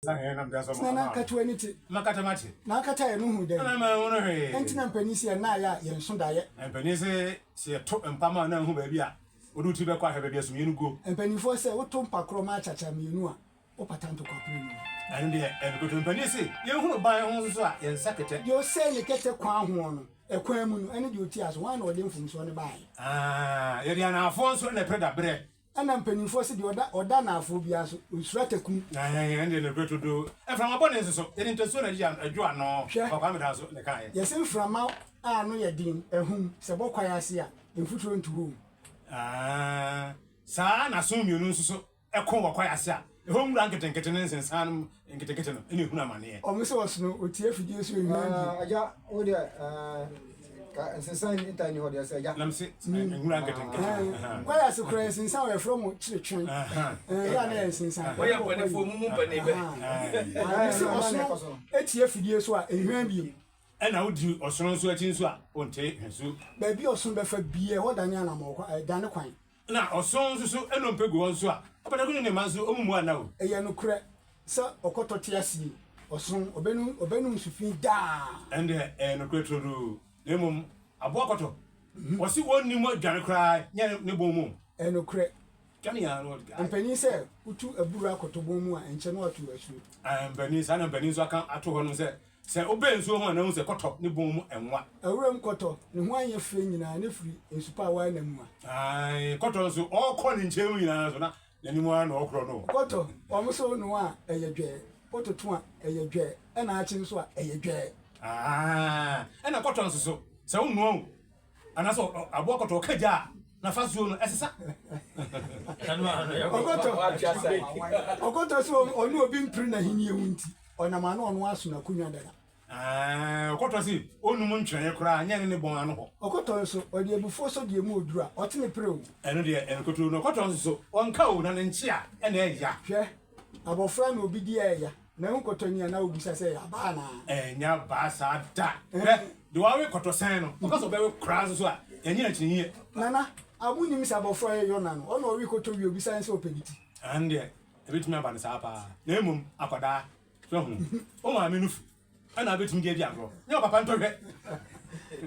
Tena na nkatewa ani te. Na akata yɛ no hu dɛn. Ɛnti na mpanin se yɛn nan ayɛ a yɛn nso daeɛ. Mpanin se se yɛ to mpa ma nan hu baabi a wode wo tiri bɛkɔ ahwɛ baabi a sumiɛ no guo. Mpaninfoɔ se wo to mpa korɔ ma akyakya mmienu a wo pata ntokwa pere no mu. Ɛno deɛ ɛnokoto. Mpanin se yɛn hunu ban ho nso a yɛn nsa kɛtɛ. Deɛ ɔsɛe ne kɛtɛ kwan hoɔ no ɛkwan mu no ɛne deɛ ɔti aso hwan na ɔde mfomsoɔ no baeɛ. Aah yɛde anaafoɔ nso na ɛpere daberɛ Ɛna mpaninfoɔ se deɛ ɔda ɔda anaafoɔ biara so, ɔnsuro ataku. Ɛhɛɛhɛ, ɛndeɛ ne berɛ to do. Mframa bɔne nso so, yɛde ntasuo na ɛgye adwo ano. Hwɛ! Ɔkwaa me dan so na ɛkaeɛ. Yɛse mframa a ano yɛ den, ahum, sɛ ɛbɔ kwaeɛ ase a, mfuturo nto hɔ o. Aah, saa ara na asono mmienu nso so ko wɔ kwaeɛ ase a. Ɛhɔ nwura nketenkete ne nsensan nketenkete no na ɛhunu amaneɛ. Wɔn sɛ wɔsono otie afidie so nnwan bi. Agya, wo deɛ ka nsensan nni ntan nni hɔ deɛ sɛ agya. Nam se nwura nketenkete no. Kwaeɛ ase koraa yɛ nsensan wɔ yɛfrɛ mo kyere twen yɛ a na yɛ nsensan. Mo yɛ mpanifoɔ mo mu mpani bɛ. Me se ɔsono tie afidie so a nnwan bi mu. Ɛna wo di ɔsono nso akyi nso a ɔnte hwe so. Baabi a ɔsono bɛfa bia ɛhɔ dane anamɔn dane kwan. Na ɔson nso so nnompe gu wɔn so a, ɔpataku ne ne mma nso, wɔmmu anna o. Ɛyɛ nokorɛ sɛ ɔkɔtɔ te asie, ɔson, ɔbɛnom, ɔbɛnom nsu fi daa. Ɛnde ɛyɛ nokorɛ turodoo, na mmom aboa kɔtɔ, wɔse wɔnni mu adwane koraa nyɛ ne bon mu. Ɛyɛ nokorɛ, mpanin sɛ wotu aburoo akɔtɔ bon mu a, ɛnkyɛ na wɔato asuo. Mpanin, saa na mpanin nso aka ato hɔnom sɛ, Sɛ wobɛn nsuo ho a na wohu sɛ kɔtɔ ne bɔn mu nwa. Wuram kɔtɔ, ne ho anyɛ fɛ nyinaa na firi nsu pa a wɔayɛ no amua. Ae, kɔtɔ nso, ɔkɔ ne nkyɛn mu nyinaa nso na n'anim ara na ɔkorɔ no. Kɔtɔ, wɔn nso noa a, ɛyɛ dwɛɛ, wototo a, ɛyɛ dwɛɛ, ɛna akye nso a, ɛyɛ dwɛɛ. Ae, ɛna kɔtɔ nso so, sɛ wonoa o, Anaasɛ aboa kɔtɔ ɔka gya a n'afasuo no ɛsesa. Ɔkɔtɔ ɔkɔtɔ sɛ ɔne obi mpere n'ahennie ho nti, ɔnam ano ɔno ara so n'akonnwa dada. Ɔkɔtɔ se ɔnnum ntwerɛeɛ koraa nyɛ ne ne bɔn ano hɔ. Ɔkɔtɔ nso, ɔde abufuo sɔ deɛ emu ɔduru a, ɔte ne pere o. Ɛno deɛ nkutoo no. Ɔkɔtɔ nso so, ɔnka o, na ne nkyea na ɛya. Hwɛ, abɔfra na obi di a ɛya. Na wo nkɔtɔ ni a na wobisa sɛ ɛyɛ abaa anaa? Ɛnyɛ abaa saa da. Hwɛ, deɛ wawe kɔtɔ sɛn no, ɔka sɛ ɔbɛwe koraa nso so a, ɛnyɛ akyinnyɛ. Nana, a wonnim sɛ abɔfra yɛ Yona no, ɔna ɔwe kɔtɔ wie a obisa ne sɛ ɔpɛ bi ti? Ɛno deɛ, ɛbɛtumi aba no saa paa, na mmom akwadaa, hwɛ hu, wo maame nufu na wobɛtumi de adi agorɔ, nyɛ wo papa ntɔhwɛ.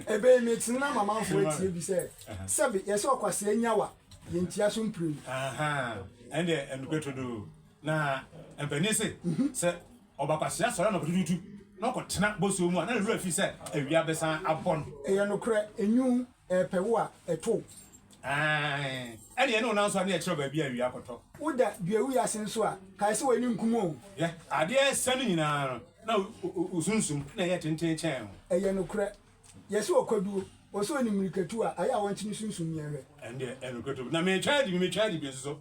Ɛbɛ yi, metee na mamanfoɔ atie bi sɛ, Sɛbe, yɛse ɔkwasea nyawa, yɛntia so mprenu. Ahaa, ɛno deɛ, ɛnokorɛ trodoo. Na mpanin se, sɛ ɔba kwasea sɔre anɔpa tutuutu na ɔkɔtena bosuo mu a, na ne werɛ afi sɛ awia bɛsan abɔ no. Ɛyɛ nokorɛ, enwunu repɛ wo a, ɛto wo. Aane, ɛnneɛ ne wo nan so a, na yɛkyerɛ wo baabi a awia kɔtɔ. Woda duawuo ase nso a, kae sɛ w'ani nkum o. Hwɛ, adeɛ a ɛsɛ no nyinaa no, na wo sunsum na ɛyɛ tenten kyɛn wo. Ɛyɛ nokorɛ, yɛse ɔkwaduo, ɔsɛ ɔnim mmirikatu a, ayɛ a wɔnte ne sunsum yɛnhwɛ. Ɛndeɛ ɛyɛ nokorɛ turup, na metwa adi bi, metwa adi bi nso so,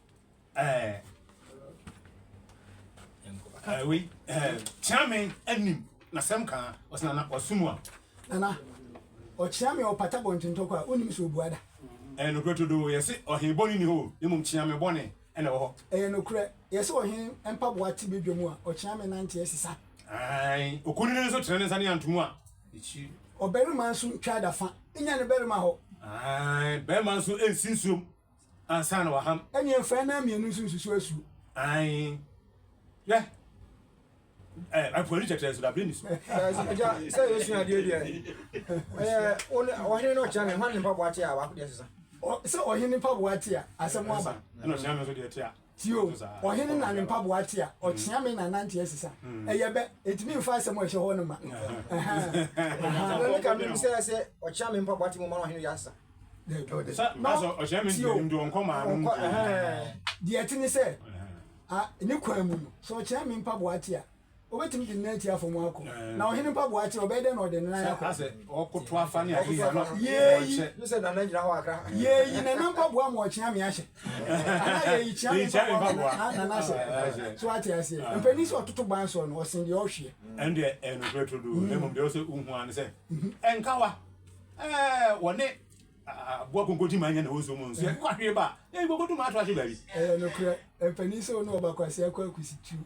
ɛɛ ɛɛ wei ɛɛ kyeame anim na sɛm kan ɔsɛ nana ɔsum a. nana ɔkyeame ɔpata bɔntentɔkɔ a wonim sɛ ɔbua da. ɛyɛ nokorɛ todoo yɛse ɔhe bɔne ni hɔ na mmom kyeame bɔne ɛna ɛwɔ hɔ. ɛyɛ nokorɛ yɛse ɔhe mpaboa te badwa mu a ɔkyeame nante asisa. ae okunini no nso tene ne nsa ne anto mu a. ɔbarima nso ntwa da fa nya ne barima hɔ. ae barima nso nsi nsuom. ansa na waham. Ɛnneɛ mfa anan mmienu nso nsusu asu. Ae. Hwɛ. Ɛ, apuani kyɛkyerɛ nso da, Bernice. Sɛ, agya, sɛ yɛresua adeɛ deɛ, ɛyɛ wo ne ɔhene na ɔkyerɛ me hwan ne mpaboa te a baako deɛ ɛsesa. Ɔ, sɛ ɔhene mpaboa te a, asɛm aba. Ɛna ɔkyerɛ me nso deɛ ɛte a. Tio, ɔhene na ne mpaboa te a, ɔkyea me na nante asesa. Ɛyɛ bɛ, ɛtumi mfa asɛm a ɛhyɛ hɔ no ma. Ɛno ne ka menim sɛ sɛ ɔkyea me mpaboa te mu ma no ɔhene wia asesa. Tio, ɔnkɔ, deɛ ɛte ne sɛ, ne kwan mu no, sɛ ɔkyea me mpaboa te a, Obetumi de ne nan ati afa mu akɔ. Na ɔhene mpaboa akyere, ɔbɛyɛ dɛn na ɔde ne nan akɔ? Sɛ ɔkoto afa ne ahiahiaa no, ɔrekyɛ. Yeeyi, Nana mpaboa ama ɔkyea me ahyɛ. Anaa Yeeyi, Kyea me mpaboa ama Nana ahyɛ. So woate aseɛ? Mpanin sɛ ɔtoto ban soɔ no, ɔsen deɛ ɔhweɛ. Ɛno deɛ ɛyɛ nokorɛ turodoo, na mmom deɛ ɛwɔ sɛ wohu ara ne sɛ, nkawa, wɔne aboa konkonti ma anya ne hɔ nsuo mu no, sɛ yɛkɔ ahwere ba a, yɛkɔkɔtu ma ato ahye baabi. Ɛyɛ nokorɛ. Mpanin sɛ wo ne ɔba kwasea kɔ akusituo.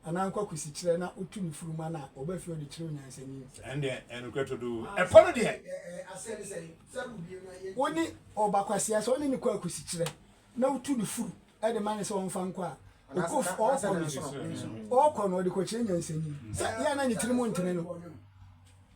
Anaa nkwakusikyerɛ na otu ne furum ana ɔba fie ɔde kyerɛ onyansani. Ɛnneɛ ɛyɛ nokorɛ todoo. Ɛpɔ no deɛ. Wo ne ɔba kwasea sɛ ɔne no kɔ akusikyerɛ na wotu ne furu de ma no sɛ ɔmfa nkɔ a, ɔkɔ fie ɔɔkɔ no ɔɔkɔ no ɔde kɔkyerɛ nyansani. Sɛ yɛ a na ne tirim ntene no.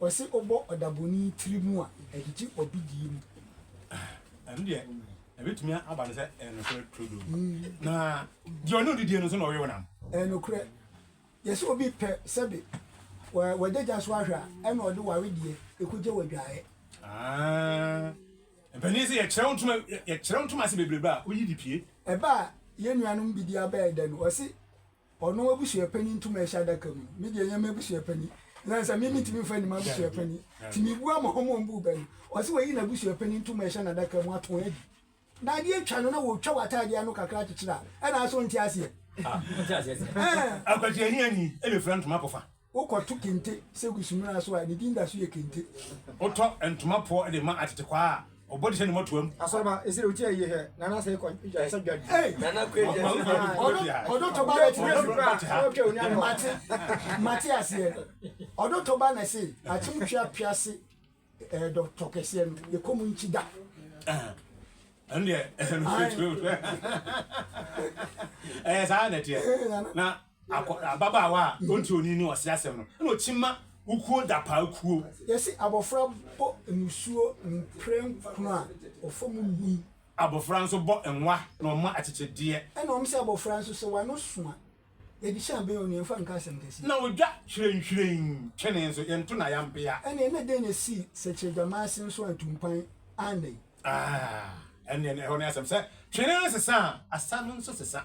Ɔse ɔbɔ ɔdabɔni tiri mu a, ɛgyegye ɔbidie mu. Ɛno deɛ ɛbɛtumi aba no sɛ ɛyɛ nokorɛ turodoo. Na deɛ ɔne ɔdidie no nso na ɔwe wo nam. Ɛyɛ nokorɛ. Yɛse obi pɛ sɛbe w'adagya so ahwɛ a, ɛna ɔde ware deɛ ɛkɔgya w'adwaeɛ. Aah. Mpanin se yɛkyerɛ wo ntoma yɛkyerɛ wo ntoma ase bebrebe a woyi de pie. Ɛbɛ a yɛn nuanom bi de abɛɛ dɛ no, ɔse. Ɔno abusuapanyin tum a ɛhyɛ adaka mu no, me deɛ ɛnyɛ m'abusuapanyin. Esiane sɛ me mentumi mfa nni m'abusuapanyin nti, mebua ma wɔn a wɔbuu bɛ no. Ɔse wayi n'abusuapanyin tum a ɛhyɛ n'adaka mu ato adi. Na adeɛ atwa no na wɔtwa w'ataadeɛ ano kakra akyekyere a, ɛna asɛ wonte aseɛ? Ah, wonte aseɛ sɛ. Ɛɛ. Akwati ahiani bɛfira ntoma akɔfa. Wokɔto kente sɛ gu sumina so a, ne din da so yɛ kente. Wotɔ ntoma poɔ de ma atetekwaa a, ɔbɔ de hyɛ ne mmɔtoam. Asɔreba, esere otia eyi hɛ, Nana sɛ ekɔ dwa sɛ dwa di. Ei! Nana kɔ edwa sɛ dwa di. Ɔdo ɔdo toba na ti nesi kura a, ɔtwa onya no. Mate, mate aseɛ. Ɔdo toba na se akyem twa pia se eh dɔ tɔ kɛseɛ no, yɛ kɔm nkyi da. Eh, ɛno deɛ, ɛhɛ no straight throat. Ɛyɛ saa na ɛteɛ. Na Akɔ, ababaawa a ɔnte onii ne ɔsrɛ asɛm no na ɔkyi ma wo kuo dapaa kuo. Yɛse abɔfra bɔ nsuo mprɛnkron a, ɔfa mu nwi. Abɔfra nso bɔ nwa na ɔma akyekyedeɛ. Ɛna wɔse abɔfra nso, sɛ w'ano so a, yɛde hyɛ abɛn onii, ɛmfa nka asɛm kɛseɛ. Na ɔdwa hwirenhwiren twene nso, yɛnto no ayampea. Ɛneɛ na dɛn na ɛsii Sɛkyerɛdwamaase nso antumpan annɛn? Aah, ɛneɛ ɛhɔ ne asɛm sɛ, twene no sesa a, asa no nso sesa.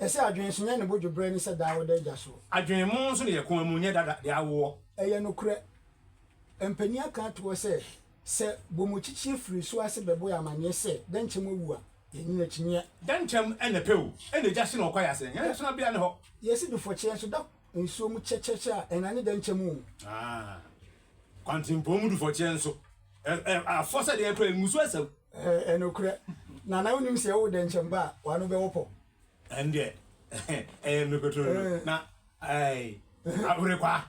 Ɛsɛ adwene nso nyɛ ne bo dwobrɛ ne sɛ daa wɔda agya so. Adwene mu nso ne yɛ koma mu nyɛ dada de awoɔ. Ɛyɛ nokorɛ. Mpanin aka ato hɔ sɛ, Sɛ bomukyikyi firi so ase bɛbɔ yɛn amaneɛ sɛ Dɛnkyɛm awu a, yɛnyini akyinnyeɛ. Dɛnkyɛm na pɛ o, ɛna gya hye na ɔkɔ ayɛ asɛn. Yɛn adesonabea ne hɔ. Yɛsi dufɔkyeɛ nso da. Nsuo mu kyɛkyɛkyɛ a ɛna ne dɛnkyɛ mu. Ah. Kwantenpɔn mu dufɔkyeɛ nso. Ɛ ɛ afɔ sɛ deɛ kura mmusuo asau. Ɛ ɛnokorɛ. Na na wonim sɛ yɛwo dɛnkyɛm ba a w'ano bɛwɔ pɔ. Ɛndeɛ ɛyɛ mmere kotoro na ɛɛ awere kwa.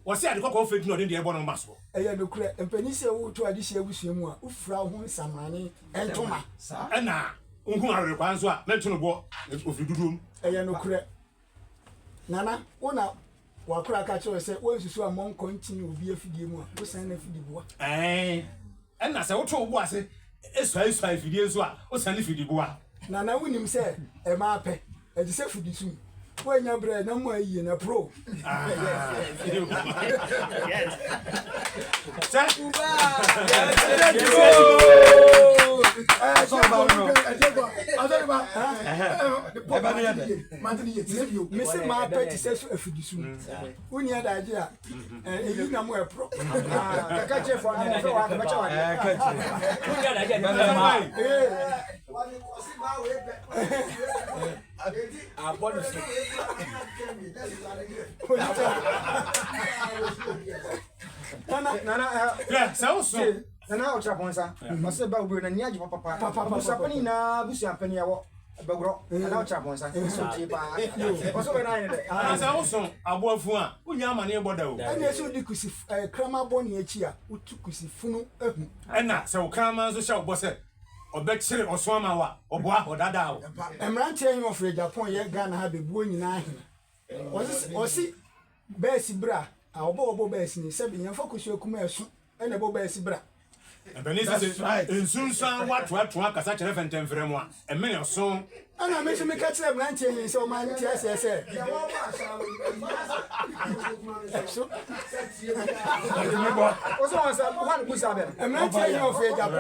Wɔse ade kɔkɔɔ fɛ nti na ɔde deɛ ɛbɔ ne mma soɔ. Ɛyɛ nokorɛ. Mpanin sɛ woreto adesua abusua mu a wofira wo ho nsamane ntoma. Saa. Ɛna wohunu awere kwa nso a mɛnto no boɔ. Ɔfiri dodoɔ mu. Ɛyɛ nokorɛ. Nana, wo na wakora ka kyerɛ sɛ wansusu ammɔ nkɔ nkyene obi afidie mu a, wosɛn n'afidiboa. Ɛɛn, ɛna sɛ woto wo bo ase suaesua afidie nso a, wosɛn ne fidiboa. Nana, wonim sɛ ɛma apɛ, ɛte sɛ fudisum, woannya berɛ a ɛnam mu ayie no, ɛporo wo. Sɛ. Mese maa pɛ te sɛ so afidi so wonni adagye a ɛyi na mo ɛporɔ kɛkɛ kyerɛ fɔ ne fɛ wa kɛmɛkyɛ wa deɛ wonni adagye a ne fɛ ma wɔde kɔsi baa wei pɛ ɛdi abɔ ne so nana nana sɛ wo so nana ɔtra pɔnsa ɔsɛ ba wobiro na ni agye papapa busuapani nyinaa busuapani ɛwɔ Bɛgorɔ anaa wokyerɛ abɔnsa ɛsɛ otie paa ɔso bɛ nine dɛ. Anaa sɛ woso aboa funu a wonnya amaneɛ bɔ da o. Ɛneɛ sɛ wodi kusi kraman bɔ ne akyi a wotu kusi funu ahu. Ɛna sɛ wo kraman nso hyɛ wo bɔ sɛ ɔbɛkyere ɔso ama wo a ɔboa ɔdadaa wo. Ɛmmeranteɛ he ɔfrɛ Japan yɛ Ghana ha bɛbuo nyinaa he ɔse. Bɛɛse bra a wɔbɔ wɔbɔ bɛɛse ni sɛbi nyɛmfa kosua kuma ɛso na ɛbɔ bɛɛse bra. Mpanin nso se nsunsuan watoatoa kasa kyerɛ fɛntɛmfrɛm a ɛmene ɔso. Ɛna me nso me ka kyerɛ mmeranteɛ he sɛ wɔma nte aseɛ sɛ. Ɛso. Wo sɛ wɔn sɛ wɔn busa bɛ. Mmeranteɛ he ɔfɛ gya kɔ.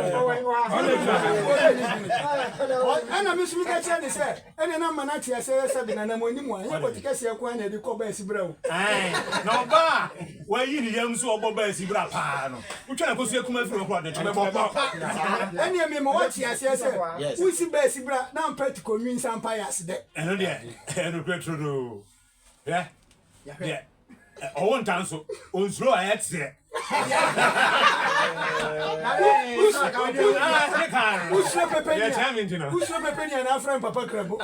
Ɛna me nso me ka kyerɛ ne sɛ. Ɛnna na mma no ate ase ara sɛ de n'ananmuanim a ɛnyɛ pɔte kɛseɛ nko ara na ɛde kɔ baa asibra o. Aane, na ɔbaa a wayi ne yam nso a ɔbɔ baa asibra pa ara no, wotwa no kosua kumaa firi hɔ koraa a, ɔde nkyem bɛbɔ pa saa. Ɛnneɛ mema woate aseɛ sɛ, wonsi baa asibra na ampa ti kɔnwi nsa mpaeɛ ase dɛ. Ɛno deɛ ɛyɛ nokorɛ turodoo. Hwɛ, deɛ ɔwo nta nso, onsuro a ɛyɛ teɛ. Wosuro pɛpɛ ni a, wosuro pɛpɛ ni a na afra mpapa krabo.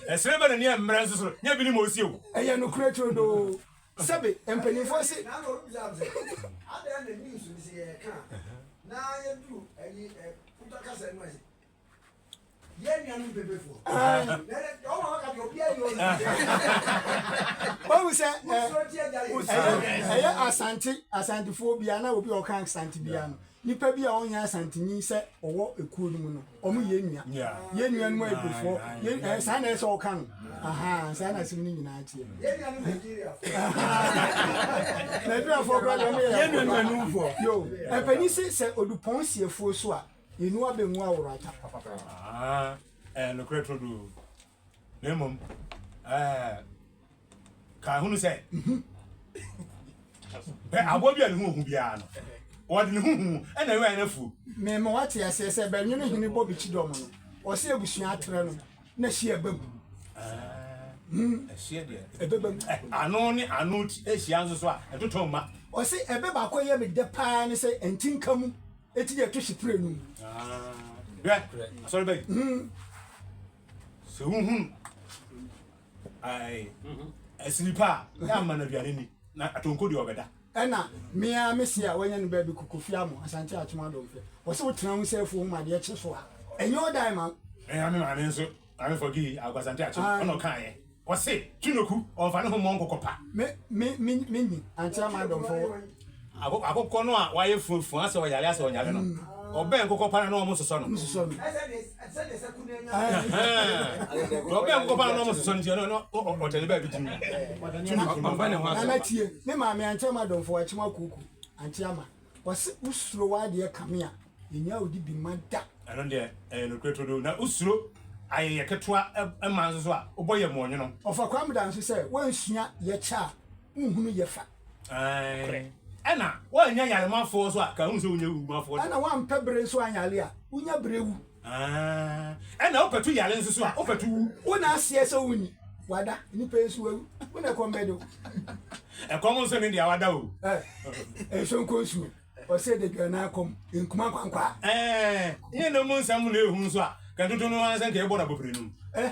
Ɛsere bɛ na ni ɛmmerɛ nso soro, nyɛ bi ni ma osi o. Ɛyɛ nokorɛ turodoo. Sɛbe, mpaninfoɔ se. wahu sɛ ɛyɛ asante asantefoɔ biara na obi a ɔka asante biara no nipa bi a ɔnyɛ asantenyi sɛ ɔwɔ ekuo no mu no ɔmo yɛ nua yɛ nua no mu abufoɔ yɛ saa na ɛsɛ ɔka no ahan saa na asɛm no nyinaa teɛ nigeriafoɔ kora deɛ ɔmo yɛ yɛ nua no mu anufoɔ yo ɛpɛni sɛ sɛ odupɔn siefoɔ so a Yenu abengu aworo ata. Aa ɛɛ nokorɛ toro do na mmom ɛɛ ka hunu sɛ bɛ aboɔ bi a ne ho ohu biara no wɔde ne ho hu ɛna ɛwɛ ɛna fuo. Mɛmɛ wate aseɛ sɛ bɛ nwene hene bɔ bɛkyi dɔm no ɔsɛ abusua atrɛ no na hyia ɛbɛ mu. Ɛhyia deɛ ɛbɛbɛ mu. Ano ne ano ɛhyia nso so a ɛtotɔ mma. Ɔsɛ ɛbɛ baako ɛyɛ me dɛ paa ne sɛ ɛntinka mu. Eti deɛ ɛto hyɛ pire no mu. Hwɛ asɔre ba yi. Sɛ wohunu asiri pa a, yɛ ama no aduane ni na atonko deɛ ɔbɛda. Ɛna mea me se a wanya ne baabi Kofi Amo, Asante Atom Adomfe. Wɔse wotena ho sɛ afuo ho ma adeɛ kye so a, ɛnyɛ wo dan ma. Ɛna me maame nso. Maame Forgee Aguasante Akyem na ɔkaeɛ. Ɔse Tunoku ɔmfa ne ho mmɔ nkokɔ pa. Me me me nyi ankyerɛ m'adɔmfo. Akokɔ no a wayɛ fuafua sɛ ɔyare asɛ ɔnyare no, ɔbɛn nkokɔ pa no na wɔsosɔ no. Deɛ ɔbɛn nkokɔ pa no na wɔsosɔ no nti ɛno na ɔtɛne baabi gyim. Tunoku no ɔmfa ne ho asɛm pa. Nana tie ne maame ankyerɛ m'adɔmfo Akyem Akuku Anteama. Wɔse wo suro w'adeɛ kame a, yɛnnya wo di bi mma da. Ɛno deɛ ɛyɛ nokorɛ todoo. Na wo suro ayɛyɛ ketewa mma nso so a, wobɔ yɛ moɔnwono. Ɔfa Kwamda nso sɛ woansua yɛ kyɛ a, wonhunu yɛ fa. Nokorɛ. Ɛna woannya yaremoafoɔ nso a, ka ahunu sɛ wonnya awumafoɔ da. Ɛna woampɛ bere nso anyare a, wonnya bere wu. Aah ɛna wopɛ to yare nso so a wopɛ to wu. Wo na aseɛ sɛ wo ni wada nipa yi nso wawu wo na ɛkɔm bɛde wo. Ɛkɔm nso ne deɛ wada o. Eh nso nkɔ nsuo ɔsɛ de dwa na akɔm nkuma nkwankwaa. Eh nyɛ na mu nsɛm na ehu nso a kɛntoto no ara sɛ nka ɛbɔ na bɔpere no mu. Eh.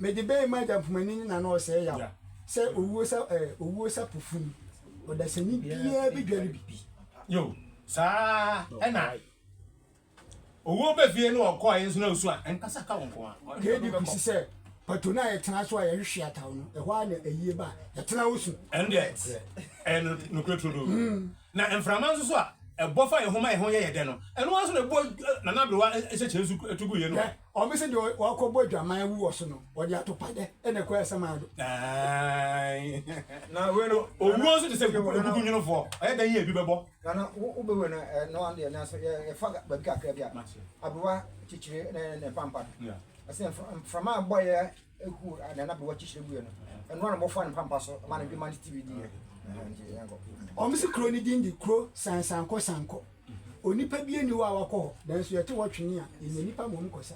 Mede bɛn m'agya mpomanin ne n'ano ɔsɛe yaw, sɛ owuo sa eh, owuo sa po funu, ɔdasani biara bɛdware bi. Yo, saa ara na owuo ba fie na ɔkɔ a yɛn nso na osu a ɛnkasa ka wo nko a. KD kosi sɛ pato no a yɛtena so a yɛhwehwe ataw no, ɛhɔ ara na ayie ba a yɛtena hɔ su. Ɛno deɛ ɛyɛ no nokorɛ turodoo. Na mframa nso so a ɛbɔ fa yɛn ho ma yɛn ho yɛ yɛn dɛ no, ɛno ara nso na ɛbɔ Nana Aberewa nhyɛkyerɛ nso tu gu yɛn ho. Wɔse deɛ wakɔbɔ adwaman awu wɔ so no, wɔde atopadeɛ na ɛkɔ ɛsɛm ano do. Na wei no, owuo nso te sɛ kukunwunofoɔ, ɔyɛ dɛn yi a ebi bɛbɔ? Nana, wo bɛ wei no ɛ, noa deɛ nanso yɛ, yɛfa baabi kakra bi a, aberewa kyekyere ne, ne mpampa no. Wɔse mfra, mframa a bɔeɛ huu Nana aberewa kyekyere guiɛ no, ɛnoa na wɔfaa ne mpampa so ma no dwuma no tibiridiiɛ. Wɔse kuro no din de Kuro Sansankɔ Sankɔ. Onipa bi nni hɔ a wakɔ hɔ, nanso yɛte wɔtwee a, yenya nnipa mmom kɔsa.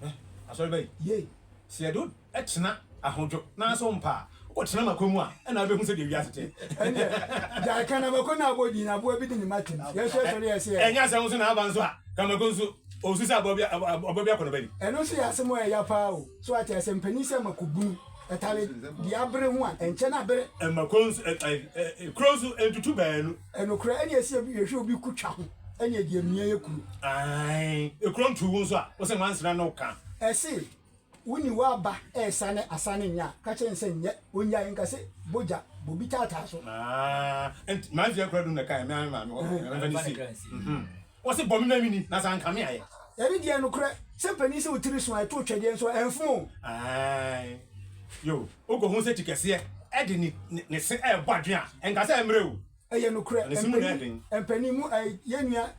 Hwɛ asɔre ba yi. Yei. Sɛ yɛde wo tena ahodwo nanso wompa a, wotena makɔ mu a, ɛnna wobɛhu sɛdeɛ wiase te. Ɛnneɛ, gyae Kanamako no abɔ din, aboa bi de ne mma tem. Yesu sɔre yɛɛ sɛ. Ɛnyɛ asɛm nso na aba nso a, Kanamako nso, ɔresu sɛ aboa bi akɔnnɔ bɛdi. Ɛno nso yɛ asɛm a ɛyɛ ya paa o. So ate asɛm, panin sɛ makɔbunu. Ɛtare di abere ho a, ɛnkyɛ na abere. Ɛma kuro nso, ɛ, ɛ, ɛ, kuro nso ntutu baanu. Ɛnokorɛ, ɛne ɛsi ebi, yɛhwɛ obi ku twa ho, ɛne ɛdi amia yɛ kuro. Ae, kuro ntu wo nso a, wose nwansena na woka. Ɛse, woni w'aba ɛresane asane nyɛ a, ka kyerɛ no sɛ nyɛ, ɔnnyae, nka sɛ, bɔ gya, bɔ bi taataa so. Ae, ɛnti, mansi akura dum na ɛka yɛ, me ara me maame hɔ, na memfa no nsie. Mhm. Wɔse bɔ me na menni, na sɛ anka me ayɛ. Yɛde deɛ nokorɛ, sɛ mpanin se wo tiri so a ɛto otwadeɛ nso a, ɛmfom o. Aane, yoo, wokɔ hu sɛ ti kɛseɛ de ne se rebɔ adwene a, ɛnka sɛ ɛmmerɛ o. Ɛyɛ nokorɛ, mpanin mu a, yɛn nua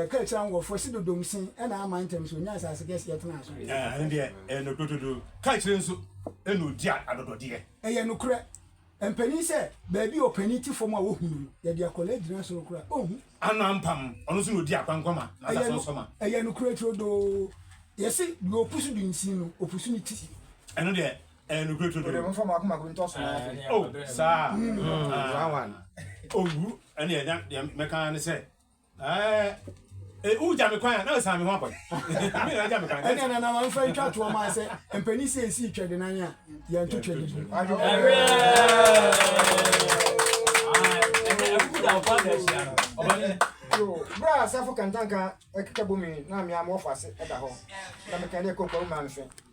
kaa kyerɛ anwoɔfoɔ se dodom se na ama ntɛm so ɔnya asase kɛseɛ tenaa so. Ɛno deɛ ɛyɛ nokorɛ dodoo, kaa kyerɛ nso na ɔdi adɔdɔdeɛ. Ɛyɛ nokorɛ, mpanin sɛ baabi a ɔpanin te fam a wɔhunu no, yɛde akwadaa gyina soro koraa ɔnhu. Ano ampam, ɔno nso na ɔdi akwankwa ma na ɔda so nso ma. Ɛyɛ nokorɛ turodoo. Yɛse, deɛ ɔpu so di nsin no, ɔpu so ne ti. Ɛno deɛ, ɛyɛ nokorɛ turodoo. Wode mmɔfra mmaako mmaako ntɔ so na afei. O, saa a. One one. Owu, ɛnneɛ na deɛ mɛka ara ne sɛ, ɛɛ, wogya me kwan a, na ɔsan me ho akɔ. Me na agya me kwan. Ɛnneɛ na na wɔmfa ntwa toɔ mmaa sɛ mpanin sɛ ɛsi twɛdenann a. Yɛn twetwe de bu. Bra asafo kantanka ɛkeka bomi na amia mo wɔfo ase ɛda hɔ na mekɛn dɛ koko wo maa no hwɛ.